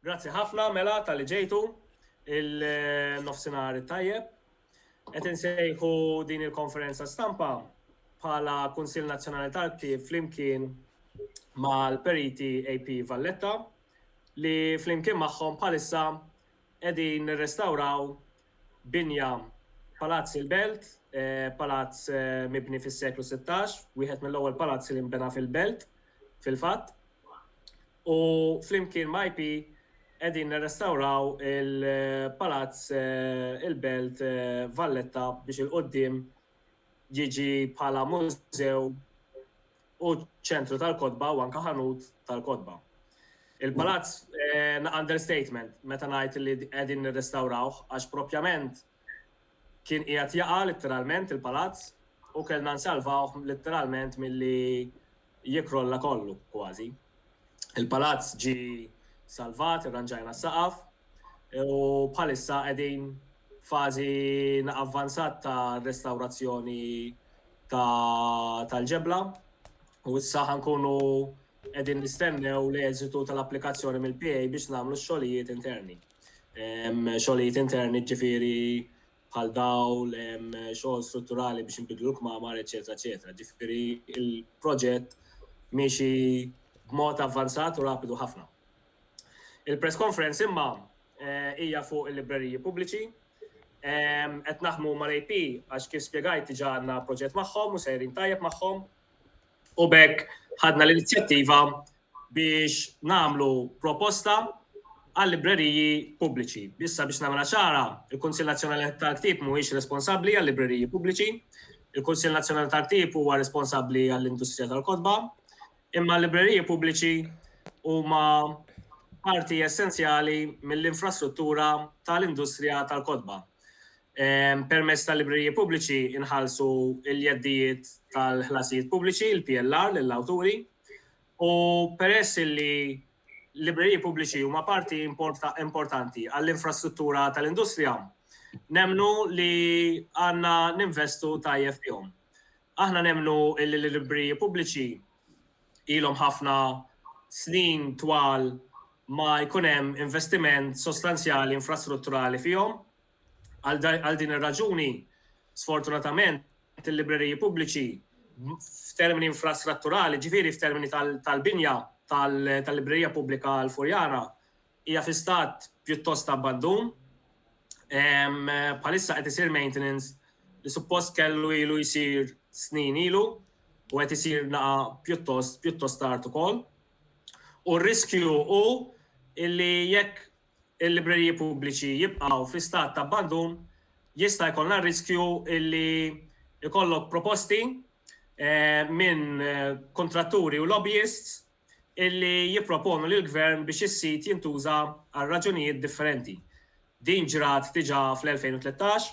Grazzi ħafna mela tal-li ġejtu il-nofsinhar tajjeb. Qed insejħu din il-konferenza stampa bħala Kunsill Nazzjonali tal-Ktieb flimkien mal-periti AP Valletta li flimkien magħhom bħalissa qegħdin nirrestawraw binja Palazzi l-Belt, palazz mibni fis-seklu sittax, wieħed mill-ewwel palazzi li nbena fil-Belt, fil-fatt. U flimkien ma' IP qegħdin nirrestawraw il-palazz il-Belt Valletta biex il-quddiem jiġi bħala mużew u ċentru tal-kotba u anke ħanut tal-kotba. Il-palazz eh, understatement meta ngħid li qegħdin nirrestawrawh għax propjament kien qiegħed jaqa' litteralment il-palazz u kellna nsalvawh litteralment milli jikrolla kollu kważi. Il-palazz ġie salvat, irranġajna s-saqaf u bħalissa qegħdin fażi avvanzat ta' restawrazzjoni tal-ġebla u issa ħankunu qegħdin nistennew l-eżitu tal-applikazzjoni mill-PA biex nagħmlu x-xogħlijiet interni. Xogħlijiet interni ġifieri bħal dawl, xogħol strutturali biex inbidlu l-kmamar, eċċetera, eċċetera. Ġifieri il-proġett miexi b'mod avvanzat u rapidu ħafna. Il-press conference imma eh, hija fuq il-libreriji pubbliċi. Qed naħmu mal-AP għax kif spjegajt diġà għandna proġett magħhom u sejrin tajjeb magħhom. U bekk ħadna l-inizjattiva biex nagħmlu proposta għal-libreriji pubbliċi. Issa biex nagħmilha ċara, il-Kunsill Nazzjonali tal-Ktieb mhuwiex responsabbli għal-libreriji pubbliċi, il-Kunsill Nazzjonali tal-Ktieb huwa responsabbli għall-industrija tal-kotba, imma l-libreriji pubbliċi huma parti essenzjali mill-infrastruttura tal-industrija tal-kotba. Permezz tal-libreriji pubbliċi nħallsu l-jeddijiet tal-ħlasijiet pubbliċi, il-PLR, lill-awturi. U peress li l-libreriji pubbliċi huma parti importanti għall-infrastruttura tal-industrija, nemnu li għandna ninvestu tajjeb fihom. Aħna nemnu li l-libreriji pubbliċi ilhom ħafna snin twal ma jkun hemm investiment sostanzjali infrastrutturali fihom, Għal din ir-raġuni, sfortunatament, il-libreriji pubbliċi f'termini infrastrutturali, ġifieri f'termini tal-binja tal-librerija pubblika l-Furjana, hija fi stat pjuttost abbandun. Bħalissa qed isir maintenance li suppost kellu ilu jsir snin ilu u qed isir naqa pjuttost pjuttost tard ukoll. U r-riskju hu illi jekk il-libreriji pubbliċi jibqgħu fi stat ta' abbandun, jista' jkollna r-riskju li jkollok proposti minn kuntratturi u lobbyists li jipproponu lill-Gvern biex is-sit jintuża għal raġunijiet differenti. Din ġrat diġà fl-2013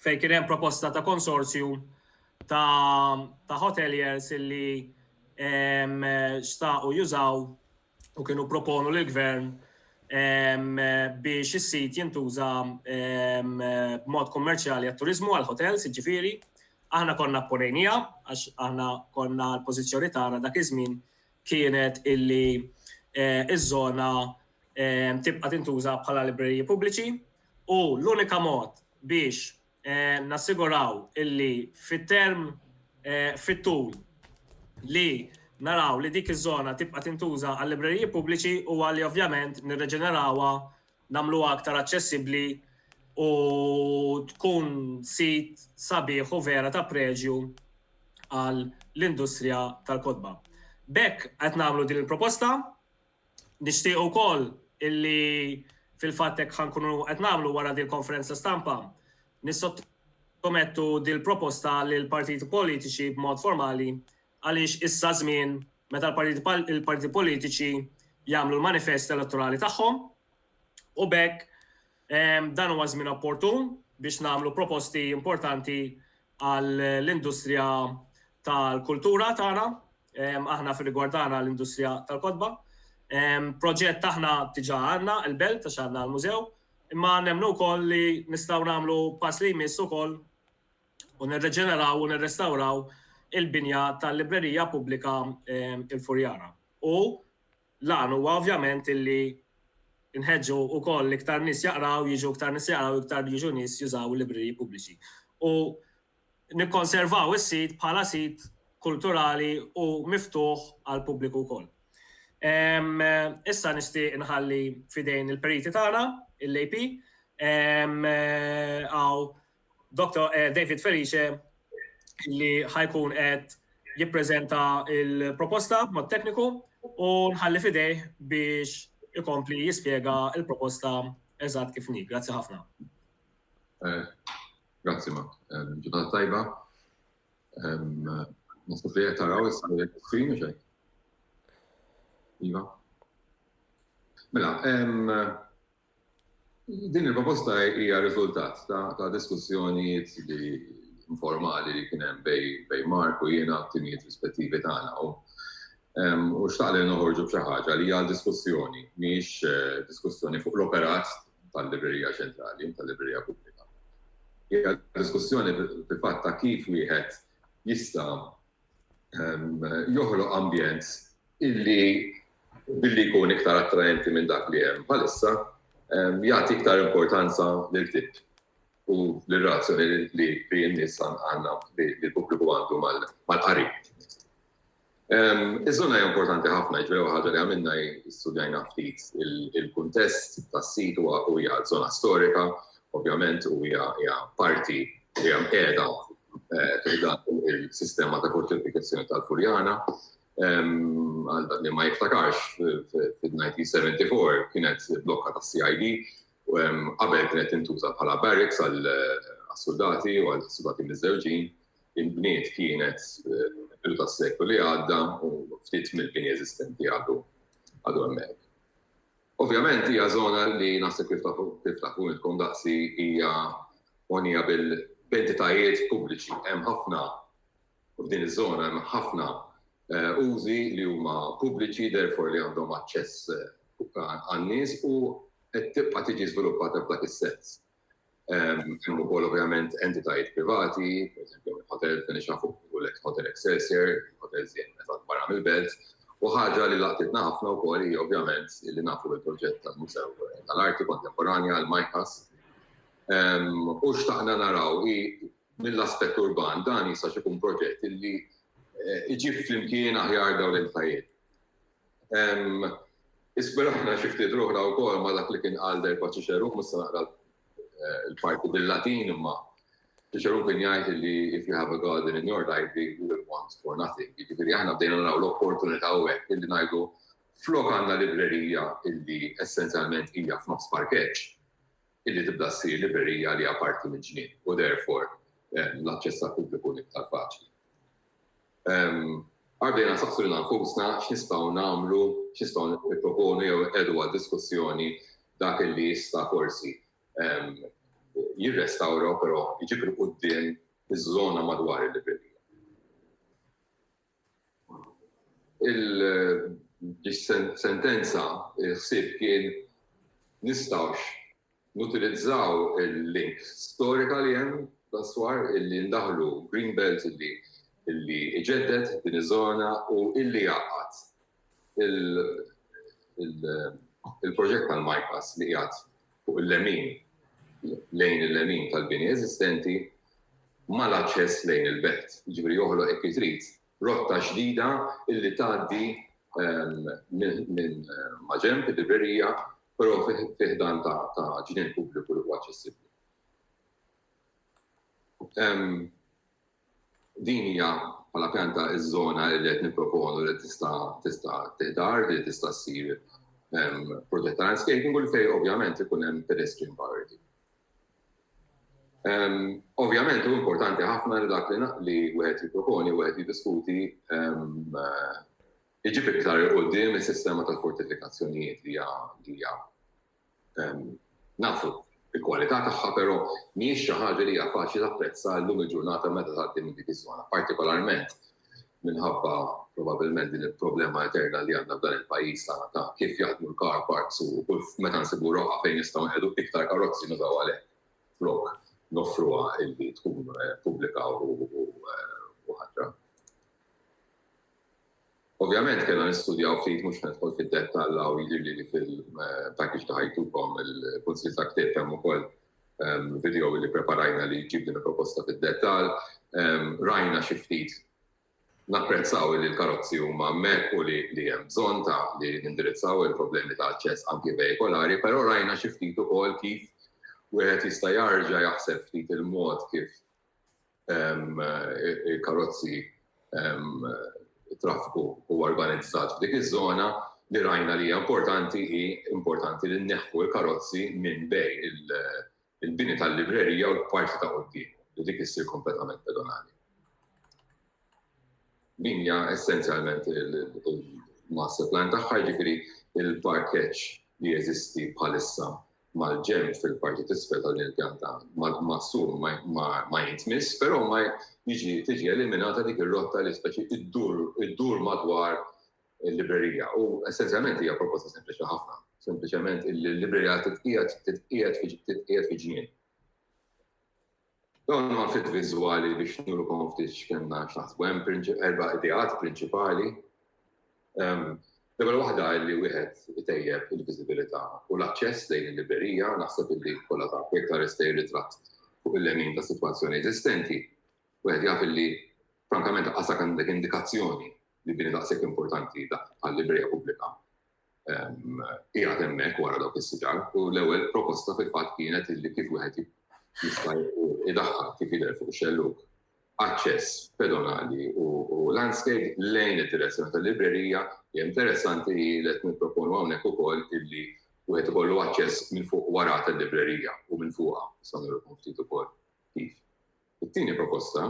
fejn kien hemm proposta ta' konsorzju ta' hoteliers li xtaqu jużaw u kienu proponu lill-Gvern biex is-sit jintuża b'mod kummerċjali għat-turiżmu għal hotels, jiġifieri, aħna konna apponejnija għax aħna konna l-pożizzjoni tagħna dak iż-żmien kienet illi iż-żona tibqa' tintuża bħala libreriji pubbliċi u l-unika mod biex nassiguraw illi fit-term fit-tul li naraw li dik iż-żona tibqa' tintuża għal libreriji pubbliċi u għalli ovvjament nirreġenerawha nagħmluha aktar aċċessibbli u tkun sit sabiħ u vera ta' preġju għal l-industrija tal-kotba. Bekk qed nagħmlu din il-proposta Nixtieq ukoll illi fil-fatt hekk ħa nkunu qed nagħmlu wara din konferenza stampa nissottomettu din proposta lil partiti politiċi b'mod formali għaliex issa żmien meta l-partiti politiċi jagħmlu l-manifest elettorali tagħhom u bekk Dan huwa żmien opportun biex nagħmlu proposti importanti għall-industrija tal-kultura tagħna, aħna fir-rigward tagħna l-industrija tal-kotba. Proġett aħna diġà għandna il-belt għax għandna l-mużew, imma nemmnu wkoll li nistgħu nagħmlu pass li jmiss ukoll u nirriġeneraw u nirrestawraw il-binja tal-Librerija Pubblika Il-Furjana. U L-għan huwa ovvjament illi nħeġġu wkoll iktar nies jaqraw, jiġu iktar nies jaqraw, iktar jiġu nies jużaw il-libreriji pubbliċi. U nikkonservaw is-sit bħala sit kulturali u miftuħ għall-pubbliku wkoll. Issa nixtieq inħalli f'idejn il-periti tagħna, il-AP, hawn Doktor David Felice li ħa jkun qed jippreżenta l-proposta b'mod tekniku u nħalli f'idejh biex ikompli jispjega l-proposta eżatt kif inhi. Grazzi ħafna. Eh, grazzi ma. Eh, ġurnata tajba. Eh, Nasib li qed taraw issa li qed screen xejn. Iva. Mela, Din il-proposta hija riżultat ta' diskussjonijiet li informali li kien hemm bejn Mark u jiena t-timijiet rispettivi tagħna u u xtaq li noħorġu b'xi ħaġa li għal diskussjoni, mhijiex eh, diskussjoni fuq l-operat tal-Librerija Ċentrali, tal-Librerija Pubblika. Hija diskussjoni fil-fatt ta' kif wieħed jista' joħloq ambjent illi billi jkun iktar attraenti minn dak li hemm bħalissa jagħti iktar importanza lil ktieb u l-relazzjoni li bi n-nies għandna li l-pubbliku għandu mal-qari. Iż-żona hija importanti ħafna, ġifieri l-ewwel ħaġa li għamilna hi studjajna ftit il-kuntest tas-sit u hija żona storika ovvjament, u hija parti li hija mqiegħda fil-dan il-sistema ta' fortifikazzjoni tal-Furjana. Għal dak li ma jiftakarx, fil-1974 kienet blokka ta' CID, u qabel kienet tintuża bħala barracks għal-soldati u għal-soldati mizzewġin, il-bniet kienet il-bidu ta' seklu li għadda u ftit mill-bini eżistenti għadu għadu għemmek. Ovvjament hija żona li naħseb kif tafu kif tafu intkom daqsi hija mogħnija bil b'entitajiet pubbliċi. Hemm ħafna f'din iż-żona hemm ħafna użi li huma pubbliċi therefore li għandhom aċċess għan-nies u qed tibqa' tiġi żviluppata f'dak is-sens. Hemm ukoll ovvjament entitajiet privati, pereżempju hotel fejn ix nafu u l-ex hotel Excelsior, hotel żjed meta barra mill-belt, u ħaġa li laqtitna ħafna wkoll hi ovvjament li nafu l-proġett tal-Musew tal-Arti Kontemporanja għal Majkas. U xtaqna naraw hi mill-aspett urban dan jista' xi jkun proġett li iġib flimkien aħjar dawn l-entitajiet. Ispirajna xi ftit ruħna wkoll ma' dak li kien qal derba Ċiċerun, mhux se naqra l-parti bil-Latin imma Ċiċerun kien jgħid li if you have a garden in your library you will want for nothing. Jiġifieri aħna bdejna naraw l-opportunità u hekk illi ngħidu flok għandna librerija illi essenzjalment hija f'nofs parkeġġ illi tibda ssir librerija li hija parti mill-ġnien u therefore l-aċċess għall-pubbliku iktar faċli. Għaddejna nsaqsu lilna nfusna x'nistgħu nagħmlu, x'nistgħu nipproponu jew inqiegħdu għad-diskussjoni dak li jista' forsi jirrestawra u però jġib 'il quddiem iż-żona madwar il-librerija. Il-sentenza, il-ħsieb kien nistgħux Nutilizzaw il-link storika li hemm dwar illi ndaħħlu green belt illi jġedded din iż-żona u illi jgħaqqad il-proġett tal-MyPass li qiegħed fuq il-lemin, lejn il-lemin tal-bini eżistenti, mal-aċċess lejn il-belt. Jiġifieri joħloq hekk kif trid rotta ġdida illi tgħaddi minn maġenb il-librerija però fi ħdan ta' ġnien pubbliku li huwa aċċessibbli. Din hija bħala pjanta iż-żona li qed nipproponu li tista' tista' tiħdar li tista' ssir protetta landscaping u li fejn ovvjament ikun hemm pedestrian priority. Ovvjament hu importanti ħafna li dak li wieħed jipproponi wieħed jiddiskuti iġib iktar il quddiem is-sistema tal-fortifikazzjonijiet li hija nafu il-kwalità tagħha però mhijiex xi ħaġa li hija faċli tapprezza llum il-ġurnata meta tgħaddi minn dik iż-żona, partikolarment minħabba probabilment din il-problema eterna li għandna f'dan il-pajjiż ta' kif jaħdmu l-car parks u kull meta nsibu roqa fejn nistgħu nqegħdu iktar karozzi nużaw għalhekk flok noffruha illi tkun eh, pubblika u eh, ħatra. Ovvjament kellna nistudjaw ftit mhux nidħol fid-dettall u jidhirli li fil-package eh, ta' ħajtukom il-kunsil ta' ktieb hemm ukoll video li preparajna li jġib din il-proposta fid-dettall. Rajna xi ftit napprezzaw li l-karozzi huma hemmhekk u li hemm bżonn ta' li nindirizzaw il-problemi ta' aċċess anki vehikolari, però rajna xi ftit ukoll kif wieħed jista' jarġa' jaħseb ftit il-mod kif il-karozzi traffiku u organizzat f'dik iż-żona li rajna li hija importanti hi importanti li nneħħu l-karozzi minn bej il-bini tal-librerija u l-parti ta' qudiem li dik issir kompletament pedonali. Din hija essenzjalment il-master plan tagħha jiġifieri il-parkeġġ li jeżisti bħalissa mal-ġenb fil-parti t'isfel ta' din il-pjanta maqsum ma jintmiss, però ma jiġi tiġi eliminata dik ir-rotta li speċi iddur madwar il-librerija. U essenzjalment hija proposta sempliċi ħafna, sempliċement il-librerija titqiegħed titqiegħed fi ġnien. Dawn huma ftit viżwali biex nurukom ftit x'kellna x'naħsbu. Hemm erba' ideat prinċipali. L-ewwel waħda li wieħed itejjeb il-viżibilità u l-aċċess lejn il-librerija, naħseb illi kollha ta' jekk taress lejn ritratt fuq il-lemin ta' sitwazzjoni eżistenti, wieħed jaf illi frankament għasek għandek indikazzjoni li bini daqshekk importanti bħal librerija pubblika qiegħed hemmhekk wara dawk is-siġar u l-ewwel proposta fil-fatt kienet illi kif wieħed jista' jdaħħal kif jidher fuq xelluk aċċess pedonali u landscape lejn id-direzzjoni tal-librerija li interessanti li qed nipproponu hawnhekk ukoll illi wieħed ikollu aċċess minn fuq wara tal-librerija u minn fuqha sa nirqu ftit ukoll kif. It-tieni proposta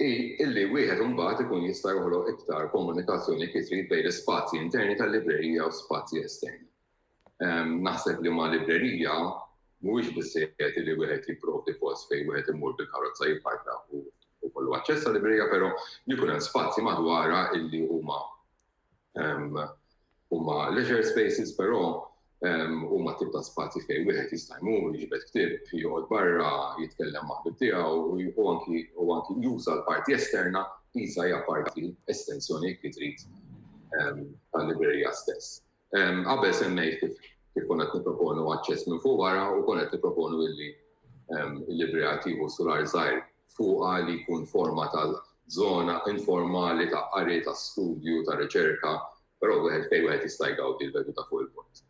hi illi wieħed imbagħad ikun jista' joħloq iktar komunikazzjoni kif irid bejn l-ispazji interni tal-librerija u spazji esterni. Naħseb li ma' librerija mhuwiex biżżejjed li wieħed jipprovdi post fejn wieħed imur bil-karozza jipparka u jkollu aċċess għal-librerija, però li jkun hemm spazji madwarha illi huma Huma leisure spaces però huma tip ta' spazji fejn wieħed jista' jmur, jiġbed ktieb, joqgħod barra, jitkellem ma' ħbieb tiegħu u anki juża l-parti esterna qisha hija parti, estensjoni jekk trid, tal-librerija stess. Qabel semmejt kif kif konna qed nipproponu aċċess minn fuq wara u konna qed nipproponu illi l-librerija tieħu sular żgħir fuqha li jkun forma ta' żona informali ta' qari, ta' studju, ta' riċerka, però wieħed fejn wieħed jista' jgawdi l-vedu ta' fuq il-pont.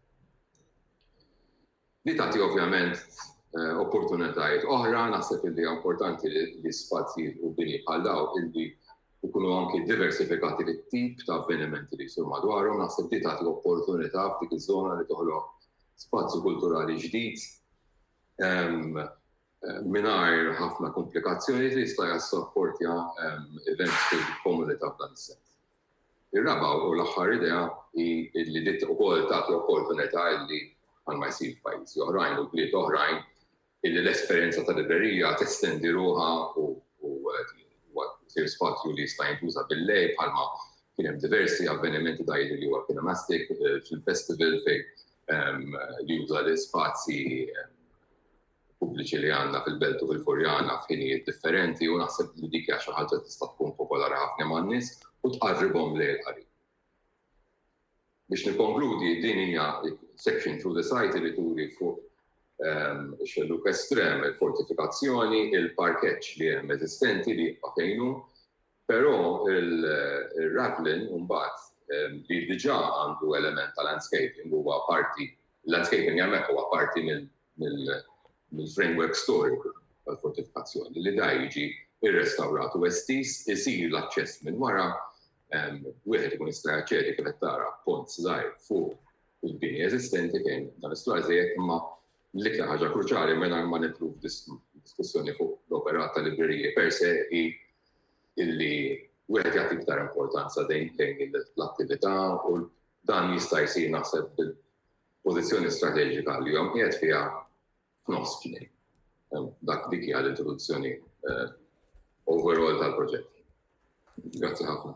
Li tagħti ovvjament eh, opportunitajiet oħra, naħseb li importanti li spazji u bini bħal daw illi ikunu anki diversifikati li tip ta' avvenimenti li jisur madwarhom, naħseb li tagħti opportunità f'dik iż-żona li toħloq spazju kulturali ġdid ehm, mingħajr ħafna kumplikazzjonijiet li jista' jassapportja events fil-komunità f'dan is-sens. Ir-raba' u l-aħħar idea hi li din ukoll tagħti opportunità li, bħalma jsir f'pajjiżi oħrajn u bliet oħrajn, illi l-esperjenza ta' librerija testendi ruħha u jsir spazju li jista' jintuża bil-lejl bħalma kien hemm diversi avvenimenti ta' jidhirli huwa Kinemastic fil-festival fejn li juża l-ispazji pubbliċi li għandna fil-Belt u fil-Furjana f'ħinijiet differenti u naħseb li dik hija xi ħaġa tista' tkun popolari ħafna man-nies u tqarribhom lejn il-qari. Biex nikkonkludi, din hija section through the site li turi fuq ehm, xelluk estrem, il-fortifikazzjoni, il-parkeġġ li hemm eżistenti li jibqa' fejnu, Però ir-ravelin imbagħad li diġà għandu element ta' landscaping huwa parti, il-landscaping hemmhekk huwa parti mill-framework storiku tal-fortifikazzjoni li da jiġi rrestawrat u estiż, isir l-aċċess minn wara, wieħed ikun jista' jaċċedi kif qed tara b'pont żgħir fuq il-bini eżistenti fejn dan is-solar żejjed imma L-iktar ħaġa kruċjali mingħajr ma nidħlu f'diskussjoni fuq l-operat tal-libreriji per se hi illi wieħed jagħti iktar importanza lejn l-attività u dan jista' jsir naħseb bil-pożizzjoni strateġika li huwa mqiegħed fiha f'nofs kien. Dak dik hija l-introduzzjoni eh, overall tal-proġett. Grazzi ħafna.